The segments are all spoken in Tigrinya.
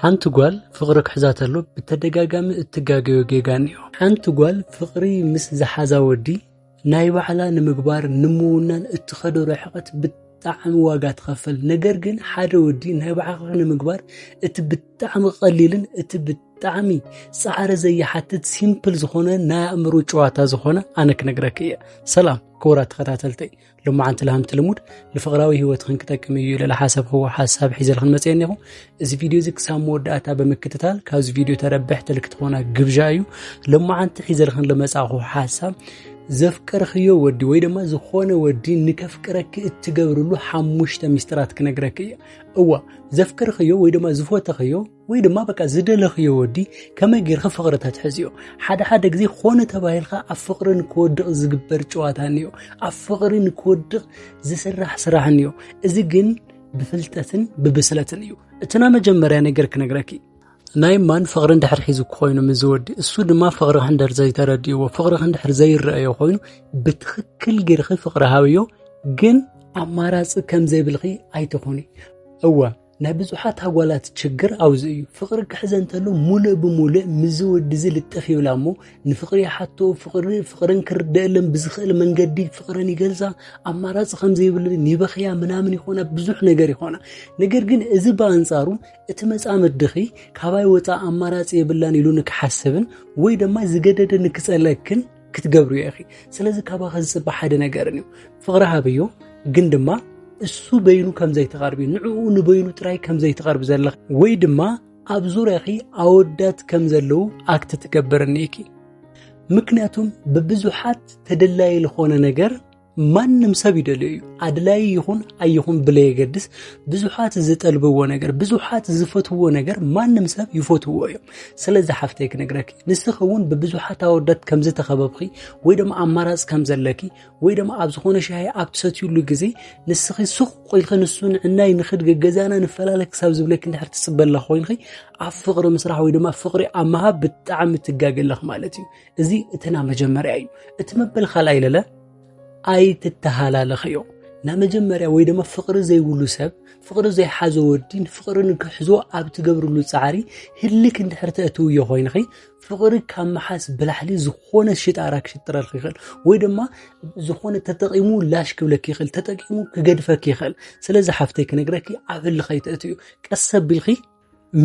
ሓንቲ ጓል ፍቕሪ ክሕዛ ተሎ ብተደጋጋሚ እትጋገዮ ጌጋ እኒኦ። ሓንቲ ጓል ፍቕሪ ምስ ዝሓዛ ወዲ ናይ ባዕላ ንምግባር ንምውናን እትኸዶ ርሕቐት ብጣዕሚ ዋጋ ትኸፈል። ነገር ግን ሓደ ወዲ ናይ ባዕኻ ንምግባር እቲ ብጣዕሚ ቀሊልን እቲ ብጣዕሚ ፃዕሪ ዘይሓትት ሲምፕል ዝኾነ ናይ ኣእምሮ ጨዋታ ዝኾነ ኣነ ክነግረክ እየ። ሰላም ክቡራት ተኸታተልተይ ሎማዓንቲ ልሃምቲ ልሙድ ንፍቕራዊ ህይወትኽን ክጠቅም እዩ ኢለ ዝሓሰብክዎ ሓሳብ ሒዘልኽን መፅአ እኒኹ እዚ ቪድዮ እዚ ክሳብ መወዳእታ ብምክትታል ካብዚ ቪድዮ ተረብሕቲ ልክትኾና ግብዣ እዩ ሎማዓንቲ ሒዘልኽን ልመፃእኹ ሓሳብ ዘፍቀርኽዮ ወዲ ወይ ድማ ዝኾነ ወዲ ንከፍቅረኪ እትገብርሉ ሓሙሽተ ሚስጥራት ክነግረኪ እየ እዋ ዘፍቀርኽዮ ወይ ድማ ዝፎተኽዮ ወይ ድማ በቃ ዝደለኽዮ ወዲ ከመይ ጌርኺ ፍቕሪ ተትሕዝዮ ሓደ ሓደ ግዜ ኾነ ተባሂልካ ኣብ ፍቕሪ ንክወድቕ ዝግበር ጨዋታ እኒዮ ኣብ ፍቕሪ ንክወድቕ ዝስራሕ ስራሕ እኒዮ እዚ ግን ብፍልጠትን ብብስለትን እዩ እቲ ናይ መጀመርያ ነገር ክነግረኪ ናይ ማን ፍቕሪ እንድሕር ሒዙ ኮይኑ ምስ ዝወዲ እሱ ድማ ፍቕሪ ክንደር ዘይተረድእዎ ፍቕሪ ክንድሕር ዘይረአዮ ኮይኑ ብትኽክል ጌርኺ ፍቕሪ ሃብዮ ግን ኣማራፂ ከም ዘይብልኺ ኣይትኾኒ እወ ናይ ብዙሓት ኣጓላት ችግር ኣብዚ እዩ ፍቕሪ ክሕዘ እንተሎ ሙሉእ ብሙሉእ ምዚ ወዲ እዚ ልጥፍ ይብላ እሞ ንፍቕሪ ይሓቶ ፍቕሪ ፍቕርን ክርደአለን ብዝኽእል መንገዲ ፍቕረን ይገልፃ ኣማራፂ ከምዘይብልን ይበኽያ ምናምን ይኾና ብዙሕ ነገር ይኾና ነገር ግን እዚ ብኣንፃሩ እቲ መፃምድኺ ካባይ ወፃ ኣማራፂ የብላን ኢሉ ንክሓስብን ወይ ድማ ዝገደደ ንክፀለክን ክትገብርዮ ኢኺ ስለዚ ካባኸ ዝፅበ ሓደ ነገርን እዩ ፍቕሪ ሃብዮ ግን ድማ እሱ በይኑ ከም ዘይተቐርቢ ንዕኡ ንበይኑ ጥራይ ከም ዘይተቐርቢ ዘለኺ ወይ ድማ ኣብ ዙርያኺ ኣወዳት ከም ዘለዉ ኣክት ትገብርኒ ኢኪ ምክንያቱም ብብዙሓት ተደላዪ ዝኾነ ነገር ማንም ሰብ ይደልዮ እዩ ኣድላይ ይኹን ኣይኹን ብለየገድስ ብዙሓት ዝጠልብዎ ነገር ብዙሓት ዝፈትዎ ነገር ማንም ሰብ ይፈትዎ እዮም ስለዚ ሓፍተይ ክነግረኪ ንስኺ እውን ብብዙሓት ኣወዳት ከም ዝተኸበብኺ ወይ ድማ ኣማራፅ ከም ዘለኪ ወይ ድማ ኣብ ዝኾነ ሻሂ ኣብ ትሰትዩሉ ግዜ ንስኺ ሱቕ ኢልኺ ንሱ ንዕናይ ንኽድገ ገዛና ንፈላለ ክሳብ ዝብለኪ እንድሕር ትፅበላ ኮይንኺ ኣብ ፍቕሪ ምስራሕ ወይ ድማ ፍቕሪ ኣብ ምሃብ ብጣዕሚ ትጋገለኽ ማለት እዩ እዚ እትና መጀመርያ እዩ እቲ መበል ካልኣይ ለለ ኣይትተሃላለኸዮ ናብ መጀመርያ ወይ ድማ ፍቕሪ ዘይብሉ ሰብ ፍቕሪ ዘይሓዘ ወዲን ፍቕሪ ንክሕዞ ኣብ ትገብርሉ ፃዕሪ ህልክ እንድሕር ተእትውዮ ኮይንኺ ፍቕሪ ካብ መሓስ ብላሕሊ ዝኾነ ሽጣራ ክሽጥረልክ ይኽእል ወይ ድማ ዝኾነ ተጠቂሙ ላሽ ክብለክ ይኽእል ተጠቂሙ ክገድፈክ ይኽእል ስለዚ ሓፍተይ ክነግረኪ ኣብ ህልኸይ ተእትዩ ቀሰ ቢልኺ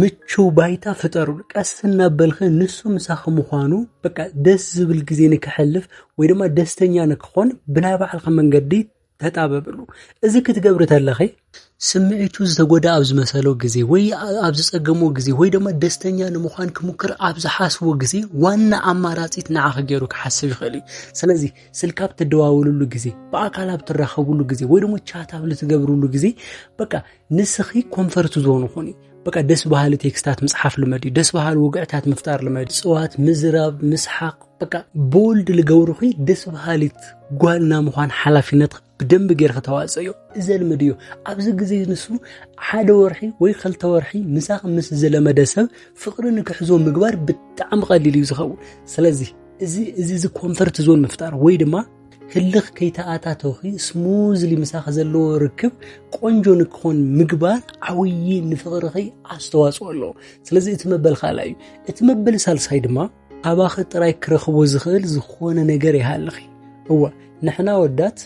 ምቹው ባይታ ፍጠሩሉ ቀስ እናበልኸ ንሱ ምሳኺ ምዃኑ በቃ ደስ ዝብል ግዜ ንክሕልፍ ወይ ድማ ደስተኛ ንክኾን ብናይ ባዕልኻ መንገዲ ተጣበብሉ እዚ ክትገብሪ ተለኺ ስምዒቱ ዝተጎዳ ኣብ ዝመሰሎ ግዜ ወይ ኣብ ዝጸገሞ ግዜ ወይ ድማ ደስተኛ ንምዃን ክሙክር ኣብ ዝሓስቦ ግዜ ዋና ኣማራጺት ንዓኺ ገይሩ ክሓስብ ይኽእል እዩ ስለዚ ስልካ ኣብ ትደዋውልሉ ግዜ ብኣካል ኣብ ትራኸብሉ ግዜ ወይ ድማ ቻት ኣብ ልትገብርሉ ግዜ በቃ ንስኺ ኮንፈርት ዞን ኹኒ በቃ ደስ በሃሊ ቴክስታት ምፅሓፍ ልመድ እዩ ደስ በሃሊ ውግዕታት ምፍጣር ልመድ ፅዋት ምዝራብ ምስሓቅ በቃ ቦልድ ልገብርኺ ደስ በሃሊት ጓልና ምዃን ሓላፊነት ብደንብ ጌርኺ ተዋፅኦ እዩ እዚ ልምድ እዩ ኣብዚ ግዜ ንሱ ሓደ ወርሒ ወይ ክልተ ወርሒ ምሳኺ ምስ ዝለመደ ሰብ ፍቅሪ ንክሕዞ ምግባር ብጣዕሚ ቀሊል እዩ ዝኸውን ስለዚ እዚ እዚ ኮንፈርት ዞን ምፍጣር ወይ ድማ ህልኽ ከይተኣታተውኺ ስሙዝሊ ምሳኺ ዘለዎ ርክብ ቆንጆ ንክኾን ምግባር ዓብዪ ንፍቕርኺ ኣስተዋፅኦ ኣለዎ ስለዚ እቲ መበል ካልኣይ እዩ እቲ መበል ሳልሳይ ድማ ኣባኺ ጥራይ ክረኽቦ ዝኽእል ዝኾነ ነገር ይሃልኺ እወ ንሕና ወዳት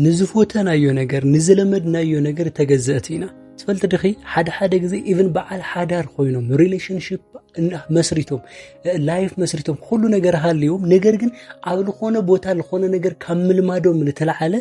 ንዝፎተናዮ ነገር ንዝለመድናዮ ነገር ተገዘእቲ ኢና ትፈልቲ ድኺ ሓደ ሓደ ግዜ ኢቭን በዓል ሓዳር ኮይኖም ሪሌሽንሽፕ መስሪቶም ላይፍ መስሪቶም ኩሉ ነገር ሃልዮም ነገር ግን ኣብ ዝኾነ ቦታ ዝኾነ ነገር ካብ ምልማዶም ዝተለዓለ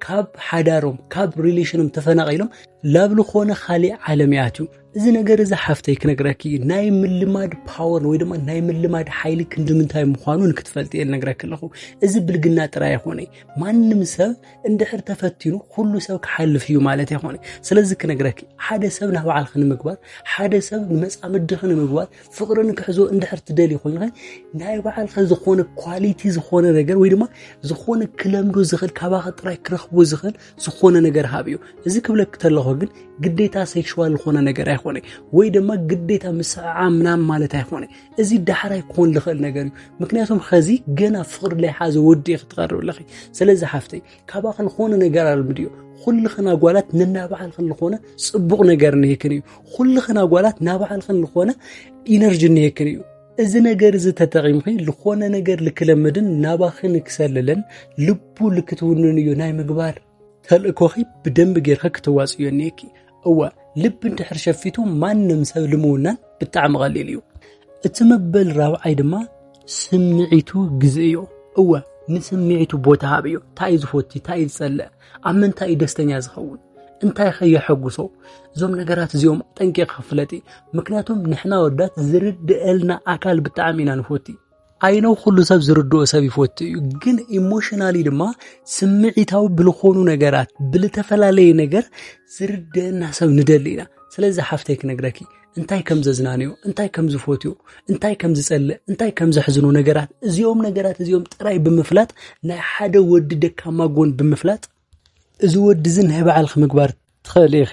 ካብ ሓዳሮም ካብ ሪሌሽኖም ተፈናቂሎም ላብ ዝኾነ ካሊእ ዓለም ይኣትዩ እዚ ነገር እዚ ሓፍተይ ክነግረኪ ናይ ምልማድ ፓወር ወይ ድማ ናይ ምልማድ ሓይሊ ክንዲ ምንታይ ምዃኑ ንክትፈልጥ እየ ነግረኪ ኣለኹ እዚ ብልግና ጥራይ ኣይኮነ ማንም ሰብ እንድሕር ተፈቲኑ ኩሉ ሰብ ክሓልፍ እዩ ማለት ኣይኮነ ስለዚ ክነግረኪ ሓደ ሰብ ናብ በዓልኺ ንምግባር ሓደ ሰብ ንመፃምድኺ ንምግባር ፍቅሪ ንክሕዞ እንድሕር ትደሊ ኮይኑ ናይ በዓልኺ ዝኾነ ኳሊቲ ዝኾነ ነገር ወይ ድማ ዝኾነ ክለምዶ ዝኽእል ካባኺ ጥራይ ክረኽቦ ዝኽእል ዝኾነ ነገር ሃብ እዩ እዚ ክብለክ ተለኹ ግን ግዴታ ሴክሽዋል ዝኾነ ነገር ኣይኮነ ወይ ድማ ግዴታ ምስዕዓ ምናም ማለት ኣይኮነ እዚ ዳሕራይ ክኾን ዝኽእል ነገር እዩ ምክንያቱም ሐዚ ገና ፍቕሪ ለይሓዘ ወዲ እዩ ክትቐርብ ኣለኺ ስለዚ ሓፍተይ ካባኺ ዝኾነ ነገር ኣልምድዮ ኩልኽን ኣጓላት ነናባዓልኽን ዝኾነ ፅቡቕ ነገር ንህክን እዩ ኩልኽን ኣጓላት ናባዓልኽን ዝኾነ ኢነርጂ ንህክን እዩ እዚ ነገር እዚ ተጠቒምኺ ዝኾነ ነገር ልክለምድን ናባኺ ንክሰልልን ልቡ ልክትውንን እዩ ናይ ምግባር ተልእኮኺ ብደንቢ ጌርካ ክተዋፅዮ እኒሄኪ እወ ልቢ እንድሕር ሸፊቱ ማንም ሰብ ልምውናን ብጣዕሚ ቀሊል እዩ እቲ መበል ራብዓይ ድማ ስምዒቱ ግዝ እዩ እወ ንስምዒቱ ቦታ ሃብ እዩ እንታይ እዩ ዝፈቱ እንታይ እዩ ዝፀልእ ኣብ ምንታይ እዩ ደስተኛ ዝኸውን እንታይ ከ የሐጉሶ እዞም ነገራት እዚኦም ጠንቂቕካ ፍለጢ ምክንያቱም ንሕና ወዳት ዝርድአልና ኣካል ብጣዕሚ ኢና ንፈቲ ኣይነው ኩሉ ሰብ ዝርድኦ ሰብ ይፈቱ እዩ ግን ኢሞሽናሊ ድማ ስምዒታዊ ብልኾኑ ነገራት ብልተፈላለየ ነገር ዝርድአና ሰብ ንደሊ ኢና ስለዚ ሓፍተይ ክነግረኪ እንታይ ከም ዘዝናንዮ እንታይ ከም ዝፈትዮ እንታይ ከም ዝጸልእ እንታይ ከም ዘሕዝኑ ነገራት እዚኦም ነገራት እዚኦም ጥራይ ብምፍላጥ ናይ ሓደ ወዲ ደካማ ጎን ብምፍላጥ እዚ ወዲ እዚ ናይ ባዕልኺ ምግባር ትኽእሊ ኢኺ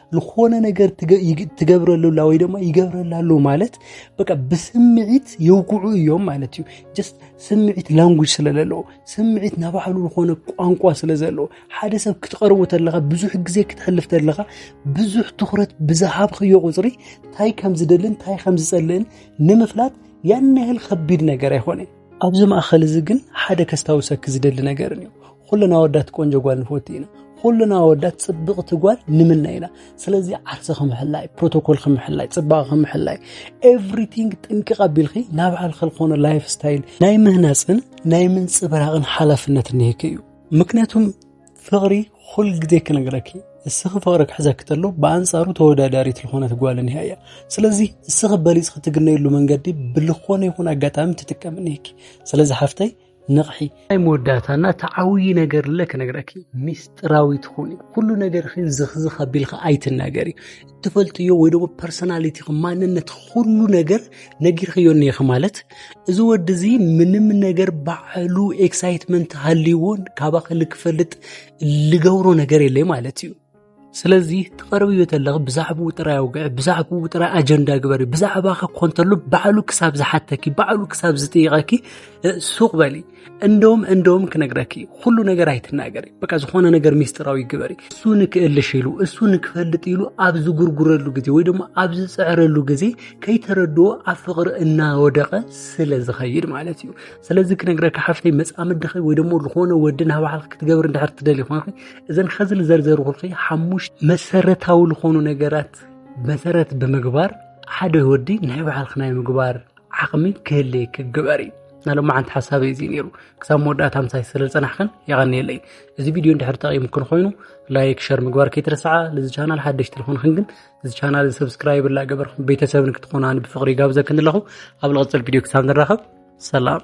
ዝኾነ ነገር ትገብረሉ ኣላ ወይ ድማ ይገብረላ ኣሎ ማለት በቃ ብስምዒት የውግዑ እዮም ማለት እዩ። ጀስት ስምዒት ላንጉጅ ስለዘለዎ ስምዒት ናባዕሉ ዝኾነ ቋንቋ ስለዘለዎ ሓደ ሰብ ክትቐርቦ ተለኻ ብዙሕ ግዜ ክትሕልፍ ተለኻ ብዙሕ ትኩረት ብዝሃብክዮ ቁፅሪ እንታይ ከም ዝደልን እንታይ ከም ዝፀልእን ንምፍላጥ ያን ያህል ከቢድ ነገር ኣይኮነን። ኣብዚ ማእኸል እዚ ግን ሓደ ከስታውሰኪ ዝደሊ ነገር እዩ ኩልና ወዳት ቆንጆ ጓል ንፈቱ ኢና ኩልና ወዳት ፅብቕቲ ጓል ንምና ኢና ስለዚ ዓርሲ ክምሕላይ ፕሮቶኮል ክምሕላይ ፅባቐ ክምሕላይ ኤቭሪቲንግ ጥንቅቕ ኣቢልኺ ናብ ባዕልኺ ዝኾነ ላይፍ ስታይል ናይ ምህናፅን ናይ ምንፅብራቕን ሓላፍነት እኒሄኪ እዩ ምክንያቱም ፍቕሪ ኩል ግዜ ክነግረኪ እስኺ ፍቕሪ ክሕዘኪ ተሎ ብኣንጻሩ ተወዳዳሪት ዝኾነት ጓል እኒሃ እያ ስለዚ እስኺ በሊፅኺ ትግነየሉ መንገዲ ብልኾነ ይኹን ኣጋጣሚ ትጥቀም እኒሄኪ ስለዚ ሓፍተይ ንቕሒ ናይ መወዳእታና ተዓውዪ ነገር ለ ክነግረኪ ሚስጥራዊት ኹኒ ኩሉ ነገርኺን ዝኽዝኽ ኣቢልካ ኣይትናገሪ ትፈልጥዮ ወይ ደሞ ፐርሶናሊቲ ማንነት ኩሉ ነገር ነጊርክዮ እኒኢኺ ማለት እዚ ወዲ እዚ ምንም ነገር ባዕሉ ኤክሳይትመንት ሃልይዎን ካባኺ ልክፈልጥ ልገብሮ ነገር የለይ ማለት እዩ ስለዚ ትቐርብዮ ተለኺ ብዛዕባኡ ጥራይ ኣውግዒ ብዛዕባኡ ጥራይ ኣጀንዳ ግበሪ ብዛዕባኺ ኮንተሉ ባዕሉ ክሳብ ዝሓተኪ ባዕሉ ክሳብ ዝጥይቐኪ ሱቕ በሊ እንደውም እንደውም ክነግረኪ ኩሉ ነገር ኣይትናገሪ፣ በቃ ዝኾነ ነገር ሚስጥራዊ ግበሪ። እሱ ንክእልሽ ኢሉ እሱ ንክፈልጥ ኢሉ ኣብ ዝጉርጉረሉ ግዜ ወይ ድማ ኣብ ዝፅዕረሉ ግዜ ከይተረድኦ ኣብ ፍቕሪ እናወደቐ ስለ ዝኸይድ ማለት እዩ። ስለዚ ክነግረኪ ሓፍተይ መፃምድኺ ወይ ድማ ዝኾነ ወዲ ናብ ባዕልኺ ክትገብሪ እንድሕር ትደሊ ኮንኺ እዘን ኸዚ ንዘርዘርኩልኺ ሓሙሽ መሰረታዊ ዝኾኑ ነገራት መሰረት ብምግባር ሓደ ወዲ ናይ ባዕልኺ ናይ ምግባር ዓቕሚ ክህልየኪ ግበሪ ናይ ሎማዓንቲ ሓሳበይ እዚ ነይሩ ክሳብ መወዳእታ ምሳይ ስለ ዝፀናሕክን የቐንየለይ እዚ ቪድዮ እንድሕር ጠቒሙክን ኮይኑ ላይክ ሸር ምግባር ከይትረስዓ ልዚ ቻናል ሓደሽቲ ልኾንክን ግን እዚ ቻናል ሰብስክራይብ ላገበርኩም ቤተሰብን ክትኾናኒ ብፍቕሪ ጋብዘክን ኣለኹ ኣብ ልቕፅል ቪድዮ ክሳብ ንራኸብ ሰላም